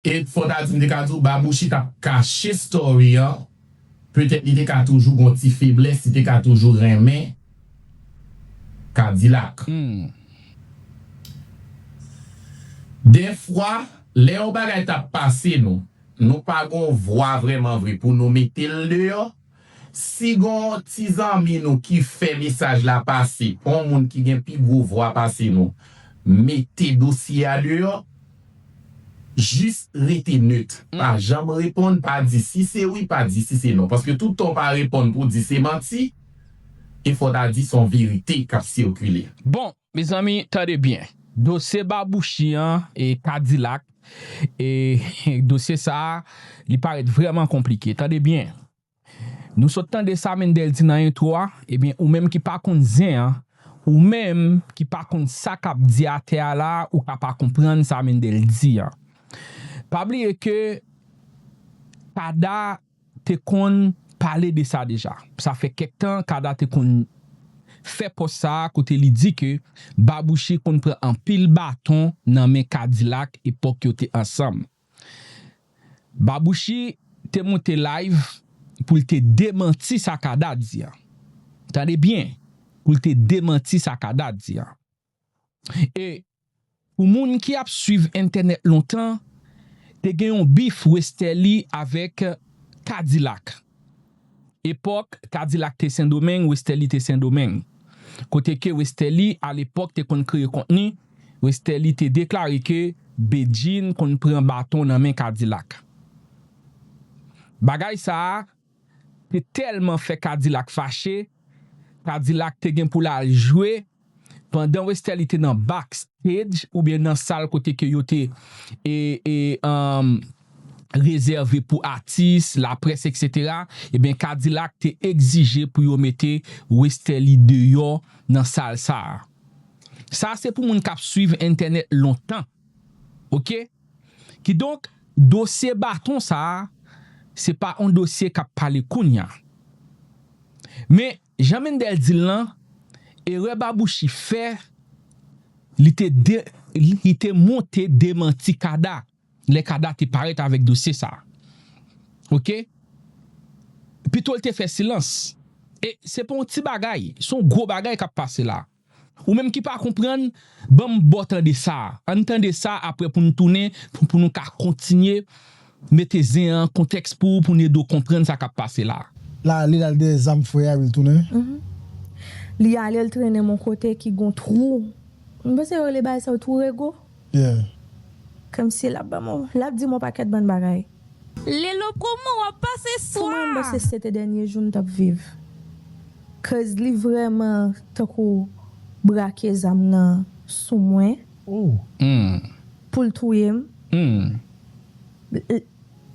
Et fò ta di m te ka di w Babouchi t ap kache story an petèt li te ka toujou gon ti feblès li te ka toujou renmen Kadilak. Dèfwa lè yon bagay t ap pase nou, nou pa gon vwa vrèman vre pou nou mete l deyò. Si gon ti zanmi nou ki fè mesaj la pase pa yon moun ki gen pi gwo vwa pase nou mete dosye a deyò jis rete nèt pa janm reponn pa di si se wi pa di si se non paske tout tan w pa reponn pou w di se manti e fò w ta di son verite kap sikile. Bon Mezanmi tande byen, dosye babouchi an e kadilak e dosye sa li parèt vrèman konplike tande byen nou sot tande sa Mendel di nan entwo a ebyen ou menm ki pa konn zen an ou menm ki pa konn sa kap di atè a la ou ka pa konprann sa Mendel di an pa bliye ke kada te konn pale de sa deja. Sa fè kèk tan Kada te konn fè pòs sa a kote li di ke Babouche konn pran anpil baton nan men Kadilak epòk yo te ansanm. Babouche te monte live pou l te demanti sa Kada di an. Tande byen, pou l te demanti sa Kada di an. E pou moun ki ap swiv entènèt lontan, te gen yon bif Westerlie avèk K-Dilak. Epòk K-Dilak te Sendomeng, Westerlie te Sendomeng. Kote ke Westerlie alepòk te konn kreye kontni, Westerlie te deklare ke Bedjine konn pran baton nan men K-Dilak. Bagay sa a. te tèlman fè Kadilak fache, Kadilak te gen pou l al jwe pandan Westerlie te nan back stage oubyen nan sal kote ke yo te rezève pou atis, laprès eksetera, ebyen Kadilak te egzije pou yo mete Westerlie deyò nan sal sa a. Sa se pou moun k ap swiv entènèt lontan. Ok kidonk dosye baton sa se pa on dosye kap pale kounya men jan Mendel dil lan erè Babouchi fè li te de li te monte demanti Kada lè Kada te parèt avèk dosye sa ok pitol te fè silans e se pa on ti bagay son gwo bagay kap pase la. Ou menm ki pa konprann, ban m ba w tande sa a. An n tande sa apre pou n tounen pou nou ka kontinye mete zen an kontèks pou ou pou n ede w konprann sa k ap pase la a. La li al dèyè zam frè a epi l tounen. Mph. Li ale l trennen m yon kote ki gen yon twou. M panse yo rele bagay sa yo twou rego. yeah. Kmnse lap banm on lap dim on pakèt bann bagay. Lelo koman wap pase Pou mwen bon se swa. sete dènye jou m tap viv cuz li vrèman tankou brake zam nan sou mwen poul touyem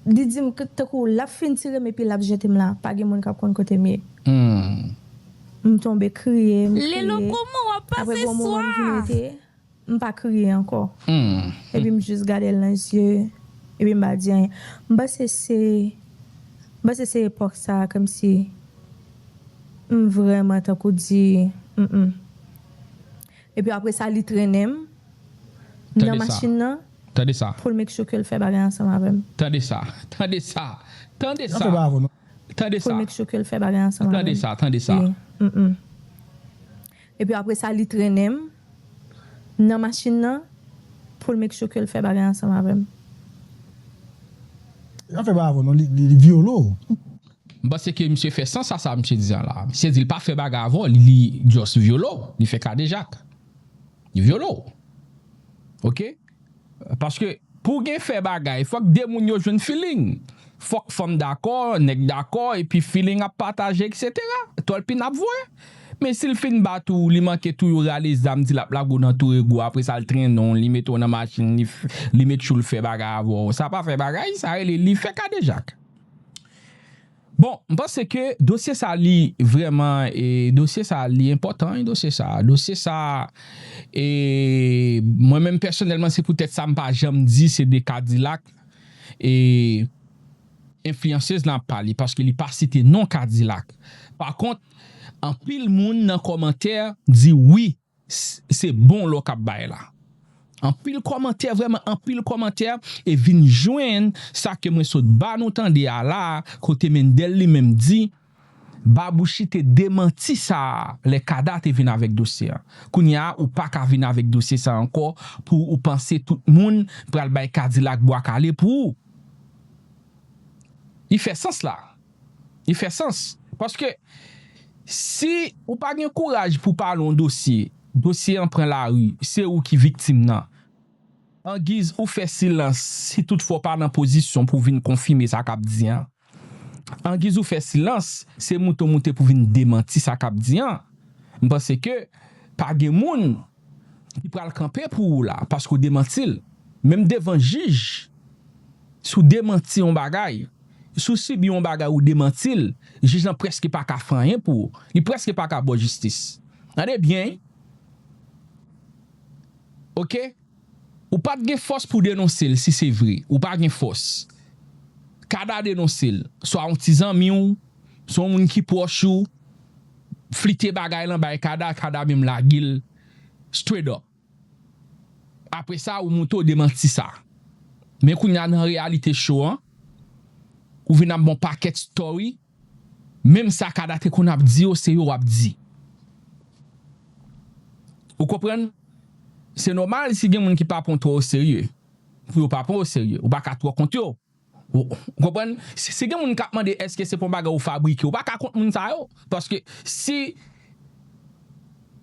li dim tankou lap fin tirem epi lap jetem la pa gen moun kap konn kotem ye m tonbe kriye m kriye Lelo koman wap apre pase gon moman m vin swa. rete M pa kriye ankò. Epi m jis gade l nan zye, epi m pa di anyen. M panse se, m panse se epòk sa a kòmsi m vrèman tankou di, m m. Epi apre sa li trennen m nan machin nan pou l make sure ke l fè bagay ansanm avè m. Tande sa! Tande sa! Tande sa! Tande sa! Pou l make sure ke l fè bagay ansanm avè m. Tande sa! Tande sa! M m. Epi apresa li trennen m nan machin nan pou l make sure ke l fè bagay ansanm avè m. Li pa fè bagay avè w non, li vyole w. M panse ke misye fè sans a sa misye di an la. Misye di l pa fè bagay avè w, li just vyole w, li fè kadejak. Li vyole w. Ok. Paske pou gen fè bagay fòk 2 moun yo jwenn feeling. Fòk fanm dakò, nèg dakò epi feeling ap pataje etc. Tòlpin ap voye. Men si l fin bat ou, li manke touye w rale zam di l ap lage w nan tou rego apre sa l trennen w, li mete w nan machin li met tchoul fè bagay avè w. Sa pa fè bagay, sa rele li fè kadejak. Bon m panse ke dosye sa li vreman e dosye sa li enpotan wi dosye sa dosye sa e mwen menm pèsonèlman se poutèt sa m pa janm di se de kadilak e enfliyansez lan ap pale paske li pa site non kadilak pa kont anpil moun nan kòmantè di wi Se bon lò kap bay la. Anpil kòmantè vrèman anpil kòmantè e vin jwenn sa ke mwen sot ba nou tande a la a kote Mendel li menm di Babouchi te demanti sa a lè Kada te vin avèk dosye a. Kounye a ou pa ka vin avèk dosye sa ankò pou ou panse tout moun pral bay Kadilak bwa kale pou ou. Li fè sans la. Li fè sans. Paske, si. Ou pa gen kouraj pou pale yon dosye, dosye an pran lari, se ou ki viktim nan. Angiz ou fè silans, si tout fwa w pa nan pozisyon pou w vin konfime sa k ap di an. Angiz ou fè silans, se moute w moute pou w vin demanti sa k ap di an. M panse ke pa gen moun Li pral kanpe pou ou la paske ou demanti l. Menm devan jij, si w demanti yon bagay, si w sibi yon bagay ou demanti l, jij lan prèske pa ka fè anyen pou ou. Li prèske pa ka ba w jistis. Tande byen ok, ou pa t gen fòs pou w denonse l si se vre, ou pa gen fòs. Kada denonse l, swa yon ti zanmi w, swa yon moun ki pwòch ou. flite bagay lan bay Kada, Kada menm lagel straight up. Apre sa ou moute ou demanti sa. Men kounye a nan reyalite show an, ou vin ap bon pakèt story, menm sa Kada te konn ap di yo se yo wap di. Ou konprann? Se nòmal si gen moun ki pa pran w twò oserye, pou yo pa pran w oserye. Ou pa ka twò kont yo. Ou konprann? Si gen moun k ap mande èske se pa yon bagay ou fabrike, ou pa ka kont moun sa yo. Paske si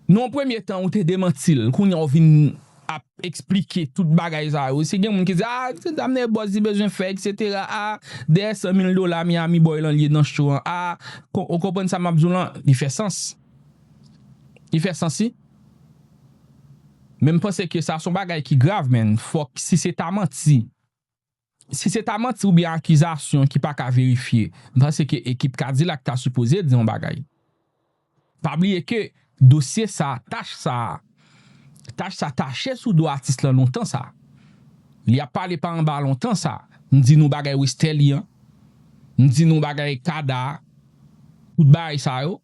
nan yon premye tan ou te demanti l, kounye a ou vin ap esplike tout bagay sa yo. Si gen moun ki di, a, se sa mnè bòs di bezwen fè eksetera, a, dèyè san mil dola Miami Boy lan li ye nan cho an, a, ou konprann sa m ap di w lan? Li fè sans. Li fè sans wi. Men m panse ke sa se yon bagay ki grav men fòk si se ta manti. Si se ta manti oubyen akizasyon ki pa ka verifye, m panse ke ekip Kadilak ta sipoze di yon bagay. Pa bliye ke dosye sa, tach sa, tach sa tache sou do atis lan lontan sa. Li ap pale pa anba lontan sa. M di nou bagay Westerlie an. M di nou bagay Kada a. Tout bagay sa yo.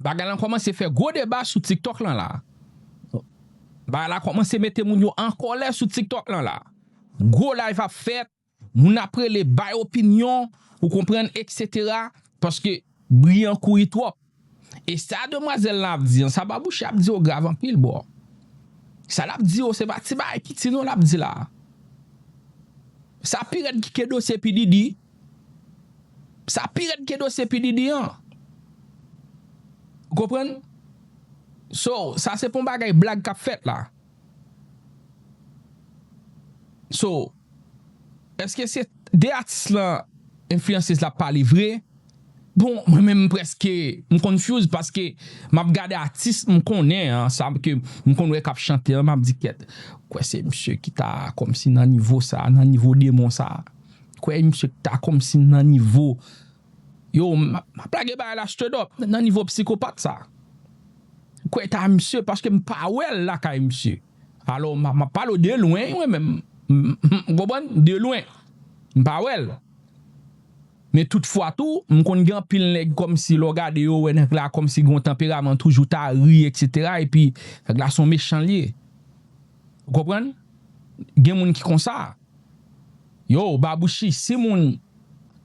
Bagay lan kòmanse fè gwo deba sou tiktok lan la. Bagay la kòmanse mete moun yo an kòlè sou tiktok lan la. Gwo live ap fèt, moun ap rele bay opinyon, ou konprann eksetera, paske bri an kouri twòp. E sa demwazèl lan ap di an, sa Babouche ap di yo grav anpil bro. Sa l ap di yo se pa ti bagay piti non l ap di la. Sa pi rèd ki ke dosye P Diddy, Sa pi rèd ke dosye P Diddy an. Ou konprann? So, sa se pa yon bagay blag kap fèt la. So, eske se de atis lan enfliyansyez la ap pale vre? Bon, mwen menm m preske m confuse paske map gade atis m konnen an, sa ke m konn wè kap chante an, map di kèt, ou kwè se misye ki ta kòmsi nan nivo sa, nan nivo demon sa? Kwè misye k ta kòmsi nan nivo yo m ap lage bagay la straight up nan nivo psikopat sa kwè ta misye paske m pa wè l lakay misye alò m ap pale w de lwen mwen menm ou konprann de lwen m pa wè l men tout fwa tou m konn gen anpil nèg kòmsi lè w gade yo ou wè nèg la kòmsi gen yon tanperaman toujou ta ri eksetera epi nèg la s on mechan l ye ou konprann gen moun ki konsa. Yo babouchi si moun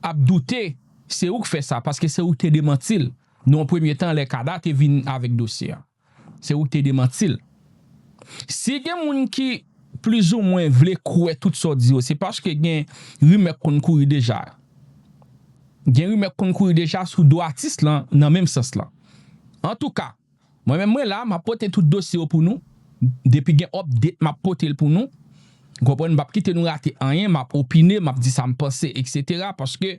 ap doute se ou k fè sa paske se ou k te demanti l nan yon premye tan lè Kada te vin avèk dosye a se ou k te demanti l si gen moun ki plizoumwen vle kwè tout sa w di yo se paske gen rimè k konn kouri deja gen rimè k konn kouri deja sou do atis lan nan menm sans lan antouka. Mwen menm mwen la map pote tout dosye yo pou nou depi gen update map potel pou nou ou konprann m pap kite nou rate anyen map opine map di sam panse etc paske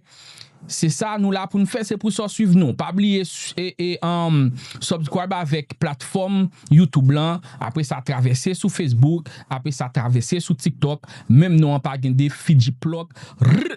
se sa nou la poun fè se pou sa w swiv nou pa bliye subscribe avèk platfòm youtube lan apre sa travèse sou facebook apre sa travèse sou tiktok menm non an pa gen de fidjiplòk rrrr.